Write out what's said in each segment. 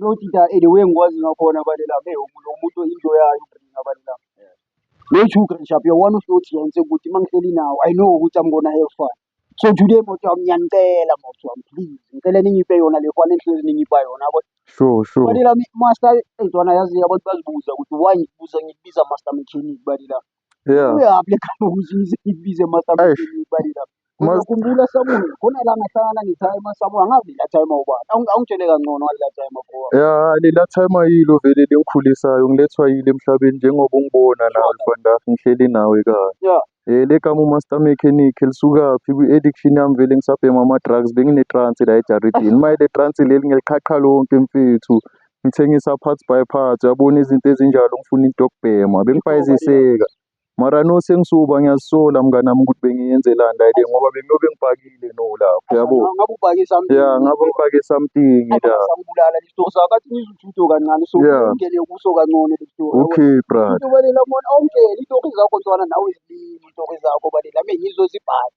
Lothinta and the way engikwazi ngakhona bale lami ewu lo muntu into yayo uBrina bale lami. No two grand shop uyawona uhloti yena sekuthi uma ngihleli nawo I know ukuthi I'm gonna have fun. So today moto yami ngiyanicela moto yami please ngicela ningiphe yona le fun engihlezi ningiba yona yabo. Sure, sure. Bale lami master ezwana yazi abantu bazibuza ukuthi why ngibuza ngikubiza master mechanic bale lami. Yeah. Uyaphi le gama ukuthi ize ibize emasabukeni Eish. ibali lapho. Mas- Uzokhumbula sabuni khona la ngahlangana nethaya emasabu angazi la time ubani. Awung- Awungitshele kangcono ngale la time bro. Ya lela time ayilo vele lengikhulisayo ngilethwa yile emhlabeni njengoba ungibona nawe Sure. Fandaf ngihleli nawe kanye. Yeah. Eh legama uMaster Mechanic lisukaphi kwi-addiction yami vele ngisabhema ama-drugs bengine-trance la ejaridini. Mayele trance leli ngiliqhaqha lonke mfethu. Ngithengisa parts by parts uyabona izinto ezinjalo ngifuna into yokubhema bengifayiziseka. Mara no sengisuba ngiyazisola mngani wami ukuthi bengiyenzelani la le ngoba bengiyobe ngipakile no lapho yabo. Ngabe ubhake something. Ya ngabe ngipake something la. Sangibulala le story sakho athi ngizuthutho kancane so Yeah. ungene kuso kancane le story. Okay brother. Into balela mona awungeni itori zakho ntwana nawe zilimi itori zakho balela mina ngizozibhala.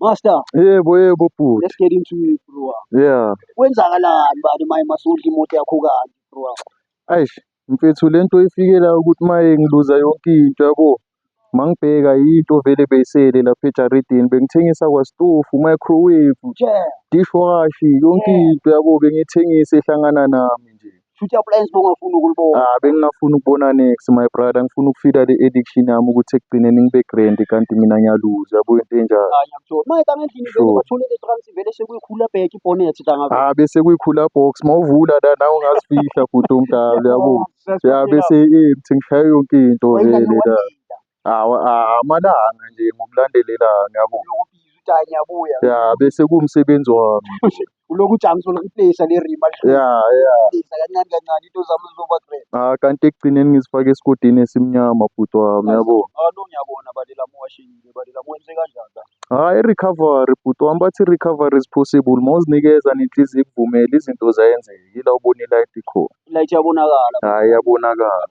Master. Yebo yebo bhuti. Let's get into it bro. Yeah. Kwenzakalani bani maye masudla imoto yakho kanje bro. Eish mfethu lento ifikela ukuthi maye ngiluza yonke into yabo. Mangibheka into vele beyisele lapha ejaridini bengithengisa kwasitofu, microwave, yeah. dishwashi, yonke yeah. into yabo bengithengisa ehlangana nami nje. Shuthi appliance bongafuni ukulibona. Ah bengingafuni ukubona next my brother ngifuna ukufida le addiction yami ukuthi ekugcineni ngibe grand kanti mina ngiyaluza yabo into enjalo. Hayi ngiyakuthola. Uma eta ngendlini vele Sure. bathole le trans vele sekuyikhula bheke ibhonet tanga. Ah bese kuyikhula box mawuvula la nawe ungazifihla bhuti omdala yabo. Ya bese empty ngishaye yonke into vele la. Amalanga nje ngokulandelela ya bese kuwumsebenzi wami ya ya kanti ekugcineni ngizifake esigodini esimnyama bhuti wami yabo. Hhayi i-recovery bhuti wami bathi i-recovery is possible uma uzinikeza nenhliziyo ikuvumela izinto ziyenzeka ila ubona i-light ikhona. Hhayi iyabonakala.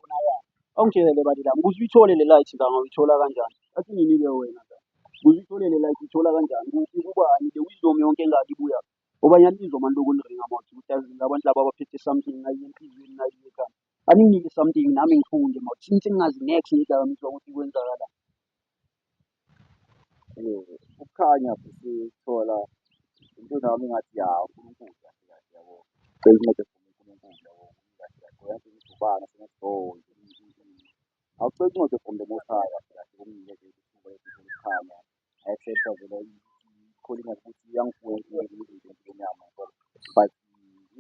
Awungitshele bani la ukuze uyithole le light nganga uyithola kanjani? Athi nginike wena la. Ukuze uyithole le light uyithola kanjani? Kuphi kubani le wisdom yonke engaka ibuya. Obanye anizwa manje lokhu niringa mouth ukuthi yazi labantu laba abaphethe something nayi enhliziyweni nayi ekhanda. Aninginike something nami ngifunde mouth since ngingazi next ngedakamizwa ukuthi kwenzakalani. Ukukhanya sisithola impilo yami ngathi ya uNkulunkulu kahle kahle yabo. Cela incede for me uNkulunkulu yabo. Kahle kahle ngoba yazi ngidubana sengathi oh awucela incede from the most high kahle kahle kumile nje isithuba esihle ukukhanya. Ayesepha vele ikholina ukuthi iyangifuya impilo izinto empilweni yami yabo. But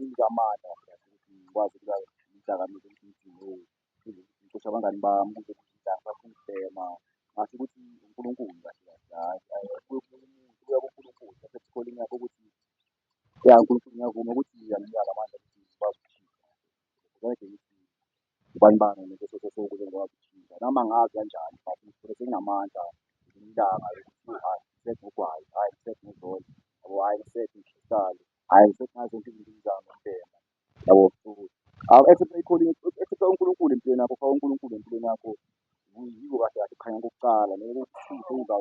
ingamandla kahle kahle ukuthi ngikwazi ukuba ngidakamizwe ukuthi ngidinwe. Ngiqosha abangani bami ukuze ngibhema ngasho ukuthi uNkulunkulu kahle kahle hhayi hhayi kuya kuNkulunkulu kuya kuNkulunkulu lapho sithola imiyalo ukuthi ya uNkulunkulu ngiyavuma ukuthi anginikanga amandla ukuthi ngikwazi ukuphila ubani bani ngeke soze soze ngikwazi ukuphila noma ngazi kanjani but ngisuke senginamandla ngelinye ilanga lokuthi hhayi ngisebenze ngogwayi, hhayi ngisebenze ngozolo, yabo hhayi ngisebenze ngihlale, hhayi ngisebenze ngazo zonke izinto engizama ukubhema. Yabo, so awu accept i-calling, accept uNkulunkulu empilweni yakho, faka uNkulunkulu empilweni yakho. Yiko kahle kahle kukhanya kokuqala, ngeke kukusize uza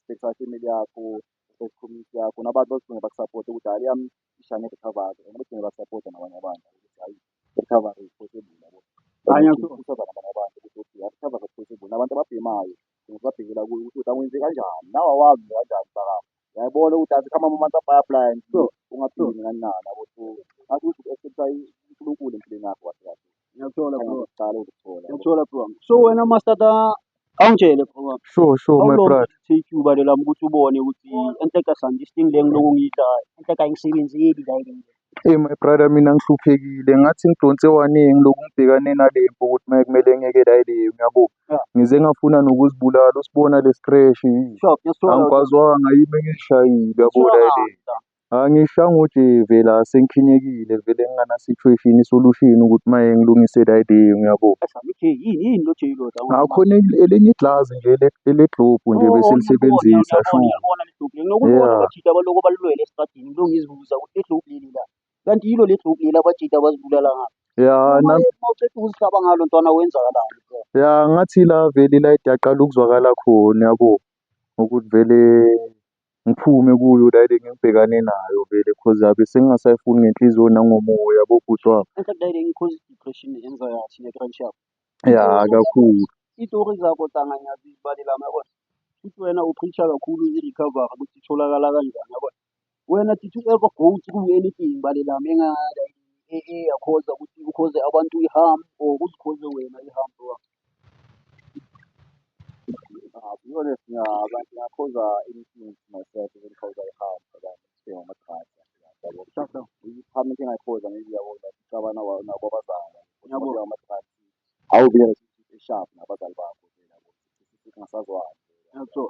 respect i-family yakho, respect community yakho, nabantu bazogcina bakusapote ukuthi hhayi le yami ishane recovery and bagcine bakusapota nabanye abantu ukuthi hhayi recovery is possible yabo. Khanya so. Ukhuthaza nabanye abantu ukuthi okay, recovery is possible. Nabantu ababhemayo, Thina sibabhekela kuye ukuthi angenze kanjani. Nawe awazi nje kanjani msakazi. Uyayibona ukuthi asikho ama-months abaya-apply-a nje ukuthi ungaphili nina nina nabo ukuthi ngathi ukuthi u-accepta uNkulunkulu empilweni yakho kahle kahle. Ngiyakuthola bro. Uqala ukuthola. Ngiyakuthola bro. So wena mastata awungitshele bro wami. Sure, sure, How my long brother. did it take you balo lami ukuthi ubone ukuthi enhleka santi isting le ngilokhu ngiyidla enhleka ayingisebenzeli la ke nje. Eyi my brother mina ngihluphekile ngathi ngidonse one ngilokhu ngibhekane nale mpi ukuthi makumele ngiyekele ayi le yona uyabo. Ngize ngafuna nokuzibulala usibona le scratch angikwazwanga yimi engizishayile uyabo la le. Angishayanga ujezi la sengikhinyekile vele ngingana situation i-solution ukuthi maye ngilungise la le uyabo. Akhona elinye igilazi nje elegilobhu nje bese lisebenzisa sho . uzibuza ukuthi le globe leli la kanti yilo le globe leli abajita abazibulala ngalo ya uma na- uma uqeda ukuzihlaba ngalo ntwana wenzakalani bro ya ngathi la vele la idaqala ukuzwakala khona yabo ukuthi vele ngiphume kuyo la le ngibhekane nayo vele cause yabe sengingasayifuni ngenhliziyo nangomoya yabo bhuti wami enhle kudayile ngikhoza i-depression yenza kathi ne-crunch yakho ya kakhulu iitori zakho tanga ngiyazibalela yabona futhi wena upreacher kakhulu i-recovery ukuthi itholakala kanjani yabona Wena did you ever go through anything balela menga eyakhoza ukuthi ukhoze abantu i-harm or uzikhoze wena i-harm bro Ah, to be honest, yeah, but yeah, I cause uh, anything to myself, even cause I have, but I'm still not trying. Shut down. Khambe into engayikhoza maybe yabo ngicabana wa- nabo abazali Yabo. ngoba amathrathi awubiyela eshapu nabazali bakho nje yabo singasazwani Yeah, so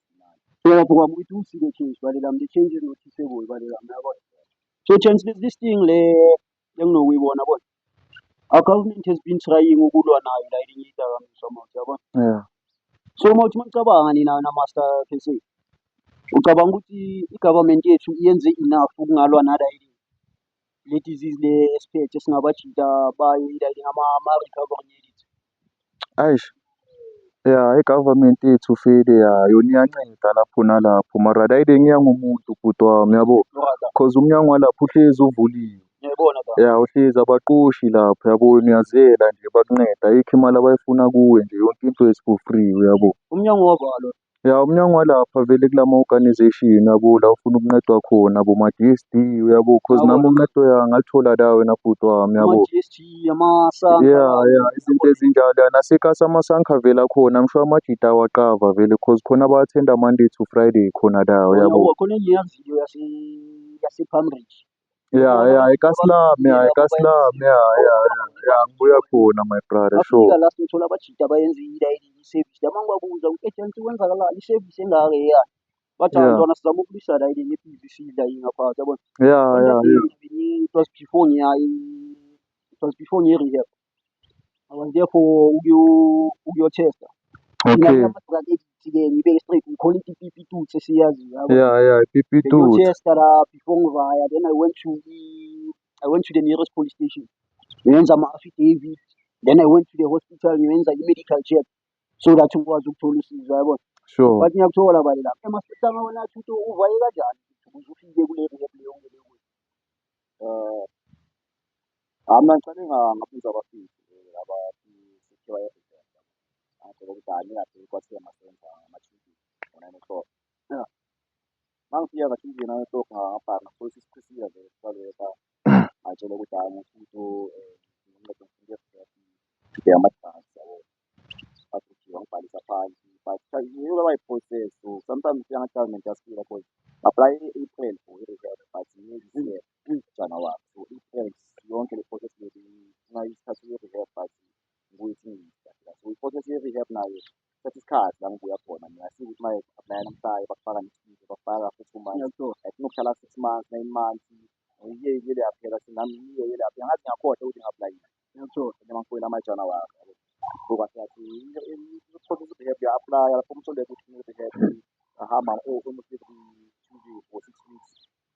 Kaya po kamu itu si dia change balik dalam dia change no si seboi balik dalam na bon. So change this this thing le yang no we bona bon. Our government has been trying ukulwa nayo la ilinye idakamizwa mawuthi yabona. Yeah. So mawuthi manicabanga nina na master KC. Ucabanga ukuthi i-government yethu yenze enough ukungalwa nala ilinye. Le disease le esiphethe singabajida bayo ila elinye ama-recovery unit. Eish, ya i-government yethu vele ya yona iyanceda lapho nalapho mara la ile ngiya ngomuntu bhuti wami yabo cause umnyango walapho uhlezi uvuliwe. Ngiyayibona la. Ya uhlezi abaqoshi lapho yabo niyaziyela nje bakunceda ayikho imali abayifuna kuwe nje yonke into is for free uyabo. Umnyango wavalwa. Ya umnyango walapha vele kulama organisation yabo la ofuna ukuncedwa khona bo ma DSD uyabo cause Yabo. nami uncedo ya ngathola la wena bhuti wami yabo. ama-DSG amasanka Yeah lawo. yeah izinto ezinjalo ya nasekhasa amasanka vele akhona ngisho amajita awaqava vele cause khona ba-attenda Monday to Friday khona la Khona uyabo. wa- khona enye yaziyo yase yasePalm Ridge Ya ya i ka slum ya i ka slum ya ya ya ya ngibuya khona my brother sure. Bafika la sithola abajita bayenzile i-service la mangibabuza ukuthi agent kwenzakalani i-service engaka eya bathi Yeah. ntwana sizama ukulisa la ile ne-PVC la ingaphansi yabona. Ya ya ya. It was before ngiya i- it was before ngiye rehab. I'm there for ukuyo ukuyothesta. Okay. Ke ngibeke straight ngikhole ipipi tu sesiyazi yabo. Yeah, yeah, ipipi tu. Ngiyotesta la before ngivaya then I went to the I went to the nearest police station. Ngenza ama affidavit then I went to the hospital ngenza i medical check so that ngikwazi ukuthola usizo yabo. Sure. But ngiyakuthola bale lapha. Ema sihlanga wena thuto uvaye kanjani? Uzufike kule rehab leyo ngeke. Eh, hayi mna ndicela ingangabuza abafiki abafikewa evident ade kokudala ingade kwathiwa masenza ama-thinking ngo-nine o'clock ya uma ngifika nga-thinking nine o'clock ngangabhanga futhi isiphisiya nje kubaleka ngatshela ukuthi hhayi ngifuna uncedo ngifuna evident ngibheke ama-advance yabo. abhujile wabhalisa phansi but yiyo babayi-process so sometimes ufika ngathi government yasifika because apply i-april for i-reserve but kuyi-january so april yonke le process leli funa isikhathi ye-rehab but ngikuyithi ngiyisafika so i-process ye-rehab nayo thatha isikhathi la ngibuya khona mina sike ukuthi maye aplaya namhlanje bakufaka nesibili bakufaka for two months i think ukuhlala six months nine months ngiyeyile yaphela sinami yiyo yile yaphela ngathi ngiyakhohlwa ukuthi ngi-aplayile Ngitho ngimafoyini amajana wakhe. Ngoba siyathi uthola i-rehab uya-aplaya lapho umthole ukuthi une-rehab ahamba umusize ku-two weeks or six weeks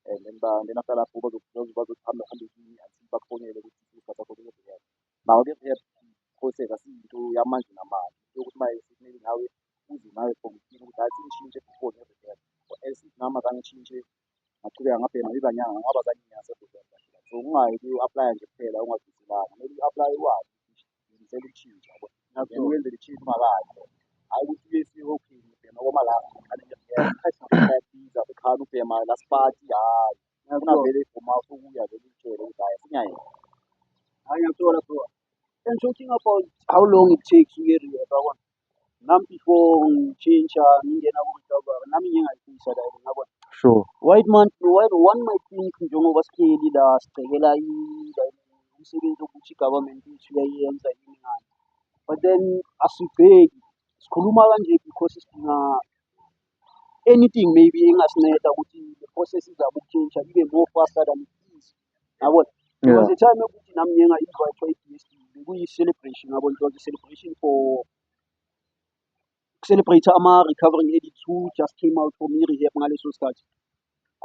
and then then after lapho bazohambe hambe kini until bakufonele ukuthi isibasakho kune-rehab. Nawo-ke i-rehab process asiyinto yamanje namanje yokuthi uma sekumele nawe uze nawe from kini ukuthi hhayi sengishintshe before ne-rehab or else nami azange ngishintshe ngaqhubeka ngabhema ibanyanga ngoba zange ngiyazi so ungayi ku-aplaya nje kuphela ungaziselanga kumele u-aplaye wazi ngisela ukushintsha yabo then wenzele ishintsha ungakayi hhayi ukuthi uye esihokhini ubhema koma la ukhani ubhema la sipati hhayi unavele ibhoma ukuya vele ulitshele ukuthi hhayi sinyayenza hhayi ngiyakuthola bro and talking about how long it takes uye rehab yabona Nam before ngitshintsha ngingena ku-recovery nami ngiye ngayifisa la yona ngiyabona. Sure. White man, white, one might think njengoba sihleli la sibhekela i- like umsebenzi wokuthi i-government yethu iyayenza yini ngani. But then asibheki, sikhuluma kanje because sidinga anything maybe engasinceda ukuthi le process izama ukutshintsha ibe more faster than it is. yabo there was a time yokuthi nami ngiye ngayi-invitwa i-DSD bekuyi-celebration yabo it was a celebration for celebrate ama-recovering addicts who just came out from i-rehab ngaleso sikhathi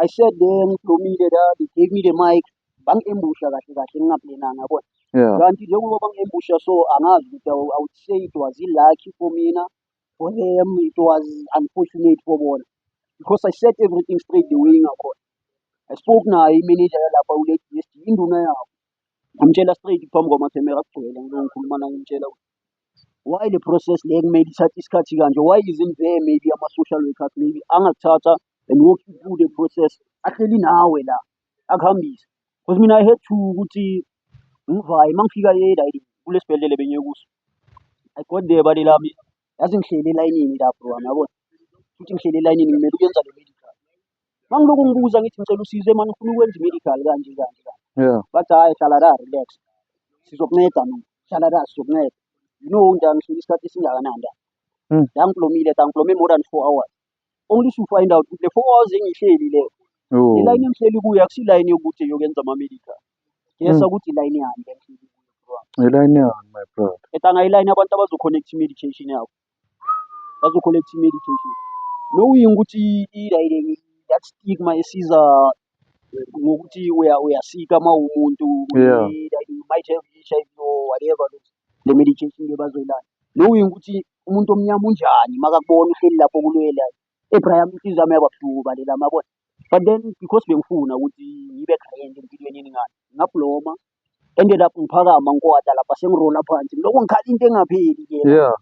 i said there ngiblomile la they gave me the mic bangi-embusha kahle kahle ngingaplenanga yabona yeah kanti njengoba bangi-embusha so angazi ukuthi I would say it was i-lucky for mina for them it was unfortunate for bona because i said everything straight the way ngakhona I spoke naye imenenja yalapha uLady Misty, induna yabo. Ngamtshela straight phambi kwamakhemera kugcwele ngilo ngikhuluma naye ngimtshela ukuthi why le process le kumele ithathe isikhathi kanje why isn't there maybe ama-social workers maybe angakuthatha and walk you through the process ahleli nawe la akuhambise because mina i had to ukuthi ngivaye uma ngifika e-riding kulesibhedlela bengiye kuso i got there bale lami Yazi ngihleli elayinini la bro wami yabona. Futhi ngihleli elayinini ngimele ukuyenza le medical. Mangilokhu ngibuza ngithi ngicela usizo manje ngifuna ukwenza i-medical kanje kanje kanje. Yeah. Bathi hhayi hlala la relax. Sizokunceda mina. Hlala la sizokunceda. You know nda ngihleli isikhathi esingakanani la. Mm. La ngigulomile la ngigulome more than four hours. Ongihluphayo indawo ukuthi le four hours engihleli le le Oh. line engihleli kuyo akusiyo iline yokuthi yokwenza ama-medical ngiyesa Mm. ukuthi iline yani le engihleli kuyo bro wami. Ngelayini yani my brother. etanga iline abantu abazo-connect i-medication yabo bazo-connect i-medication knowing ukuthi ilayile that stigma esiza ngokuthi uya- uyasika uma umuntu Yeah. i- like you might have HIV or whatever le medication le bazoyilanda knowing ukuthi Umuntu omnyama unjani makakubona uhleli lapho kulwela ebraya inhliziyo yami yababuhlungu balela mabona but then because bengifuna ukuthi ngibe grand empilweni yeningane ngabloma ended up ngiphakama ngikwata lapha sengirola phansi ngiloko ngikhala into engapheli ke yeah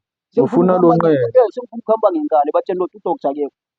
ufuna lonqele sengifuna ukuhamba ngenkani batshela ukuthi udoctor akekho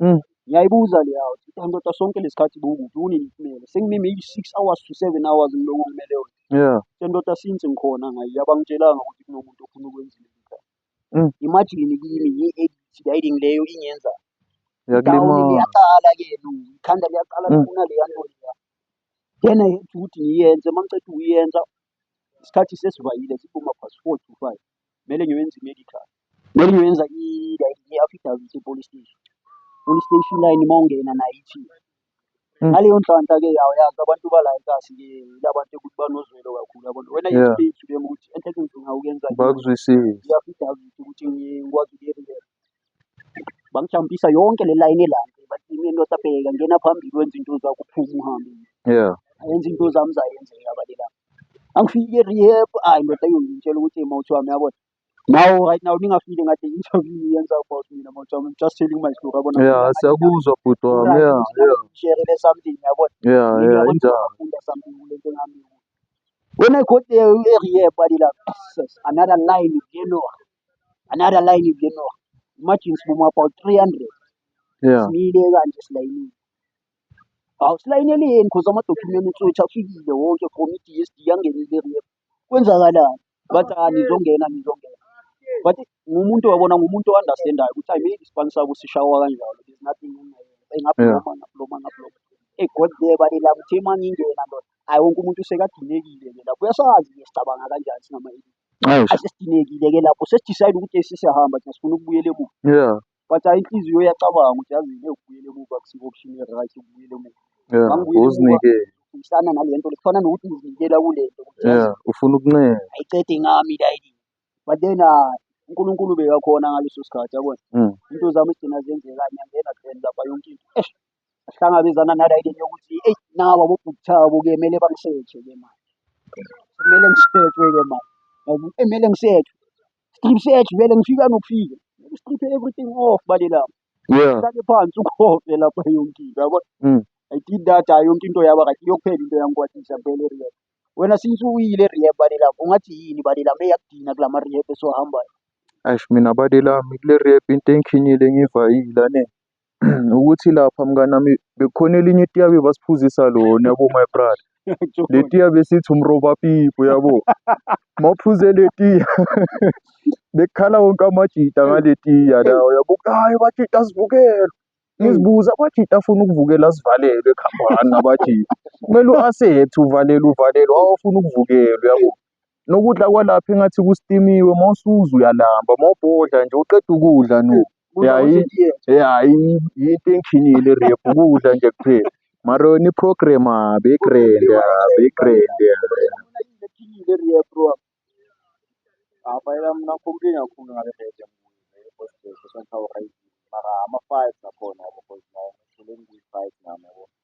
Hm. Ngiyayibuza le yawo ukuthi hayi ndoda sonke lesikhathi bowukuphi kunini ngimele sengime maybe six hours to seven hours ngilokhu ngimele yona Yeah. so ndoda since ngikhona ngayi abangitshelanga ukuthi kunomuntu ofuna ukwenza into ekhaya Mm. imagine kimi ngi-addict riding leyo ingenza down Yakulimaza. liyaqala ke no ikhanda liyaqala Mm. lifuna leya nto leya then i had ukuthi ngiyenze uma ngiceda ukuyenza isikhathi sesivayile siphuma past four to five kumele ngiyoyenza i-medical. Kumele ngiyoyenza i-affidavit e-police station. Police station line uma ungena nayo ithi Mm. ngaleyo nhlanhla-ke yawo yazi abantu bala ikahle-ke ilabantu ekuthi banozwelo kakhulu yabona wena Yeah. yethu leyithu lema ukuthi enhle kenzima ukenza bakuzwisise i-affidavit ukuthi ngikwazi ukuyeriyela Bangijambisa yonke le layini elandela bathi yimi indoda bheka ngena phambili wenza into zakho uphume uhambe. Yeah. Ayenza into zami zayenzeka balela. Angifike rehab ayi ndoda yongitshela ukuthi mawuthi wami yabona. Now right now ningafile ngathi interview yenza about mina mawuthi wami I'm just telling my story yabona. Yeah, siyakuzwa bhuti wami. Right, Yeah, yeah. Ngishare something yabona. Yeah, Mina yeah, yabona injalo. ngafunda something kule nto ngami. When I got there e-rehab balela another line you know. another line ibile no imagine sibume about 300 yeah simile kanje silayinile awu silayinele yini because amadokhumenti utswethu afikile wonke from i-dsd yangenile rep kwenzakalani bathi ah nizongena nizongena but ngumuntu wabona ngumuntu o-understandayo ukuthi hayi maybe isibani sabo sishawa kanjalo there's nothing engabhoma ngabhoma ngabhoma egot there balila kuthi uma ngingena ndoda hayi wonke umuntu usekadinekile ke lapho uyasazi ke sicabanga kanjani singama-elite Ayi sesidinekile ke lapho sesidecide ukuthi hey sesiyahamba thina sifuna ukubuyela emuva yeah but hhayi inhliziyo iyacabanga ukuthi yazi le ukubuyela emuva akusiyo option e-right ukubuyela emuva yeah Mangibuyele emuva. uzinike ngifana nale nto le kufana nokuthi ngizinikela kule nto ukuthi yazi yeah ufuna ukuncela ayicede ngami la yini but then ah, unkulunkulu bekakhona ngaleso sikhathi yabona Mm. into zami zigcina zenzeka ngiyangena then lapha yonke into eish Sihlangabezana nala into yokuthi eyi nawa bobhuti thabo ke kumele bangisetshe ke manje. Kumele ngisethwe ke manje. Ngoba kumele ngisethwe. Strip search vele ngifika nokufika. Strip everything off bale lapha. Yeah. Uhlale phansi ukhove lapha yonke into yabo. Mm. I did that hayi yonke into yaba right iyokuphela into yangikwatisa vele rehab. Wena since uyile rehab bale lapha ungathi yini bale lapha eyakudina kulama rehab esohambayo. Eish mina bade lami kule rap into engikhinyile ngivayile ane. Ukuthi lapha mnganami bekukhona elinye itiye abebasiphuzisa lona yabo my brother. Le tiya besithi umrobapipi uyabo. Uma uphuze le tiya bekukhala wonke amajita ngale tiya lawa yabo. Hayi amajita asivukela. Ngizibuza amajita afuna ukuvukela asivalelwe kuhambani namajita. Kumele u-accept-e uvalelwe uvalelwe awafuni ukuvukelwa uyabo. Nokudla kwalapha engathi kustimiwe uma usudla uyalamba uma ubhodla nje uqeda ukudla no. Ya yi- ya yi- yinto engikhinyile irephu ukudla nje kuphela. Mara yona i-program ah, be-grand ah, be-grand ah.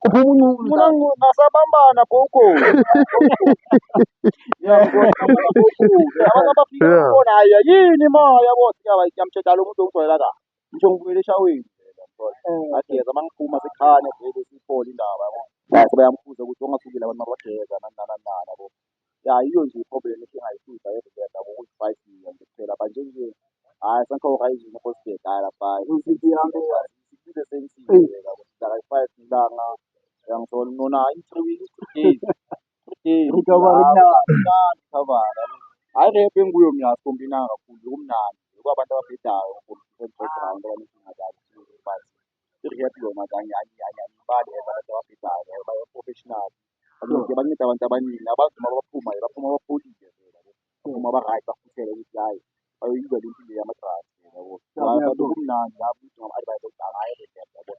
Ngingasabambana gogo. yini ma yabo ngiyamtshela lo muntu ongijwayela kahle. Ngisho ngibuyela eshaweni. Ageza uma ngiphuma sikhane vele siphole indaba yabo. Bese bayambuza ukuthi ongasukile abantu mabageza nani nani nani yabo. Ya yiyo nje i-problem esingayibuza eRiverda ngokuyi-five million nje kuphela but nje nje hhayi sanhloka izulu kosibheka hhayi lapha iphinde sengisize yabo sitaka-five ilanga uyangithola nona hhayi three weeks three days three days ngikhavara hhayi rap enguyo mina asikombi inanga kakhulu kumnandi yiko abantu ababhedayo background abanezinga zabo but i-rap yona kanye angibali abantu ababhedayo baye-professional Abonke banceda abantu abaningi abazi uma baphuma baphuma bapholile uma ba-right bafuthele ukuthi hhayi bayoyizela impilo yama-drugs yabo abantu kumnandi yabo ukuthi ngama-advise ukuthi akaye kuyena yabo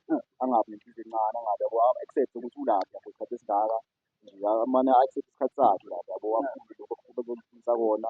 angabi nempilo encane angabi yabo accept ukuthi ulaphi yabo isikhathi esingaka nje amane accept isikhathi sakhe lapho yabo aphumile lokho kuba kumfisa kona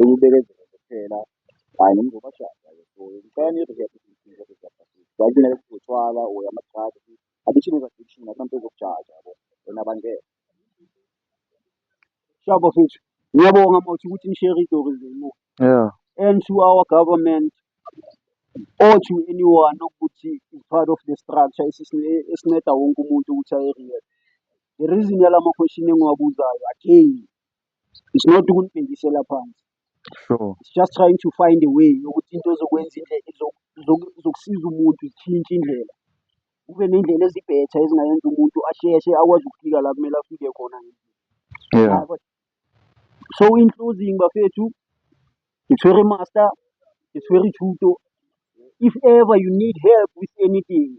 Ukubekezela kuphela hhayi nomzobashada ke so ngicela nirehebhe izinto eziyabhasisi hhayi kunele kuthi utshwala or ama-drug addiction is addiction akunanto ezokujaja yabo wena bangeke Shaba futhi ngiyabonga mawuthi ukuthi nishare itori zenu Yeah. and to our government or to anyone okuthi is part of the structure esisine- esinceda wonke umuntu ukuthi aye-rehab. The reason yala ma-question engiwabuzayo again It's not ukunibhekisela phansi. Sure. It's just trying to find a way yokuthi into ezokwenza indlela zokusiza umuntu zitshintshe indlela. Kube ney'ndlela ezibhetha ezingayenza umuntu asheshe akwazi ukufika la kumele afike khona. Yeah. So in closing bafethu, ngithwere master, ngithwere thuto. If ever you need help with anything,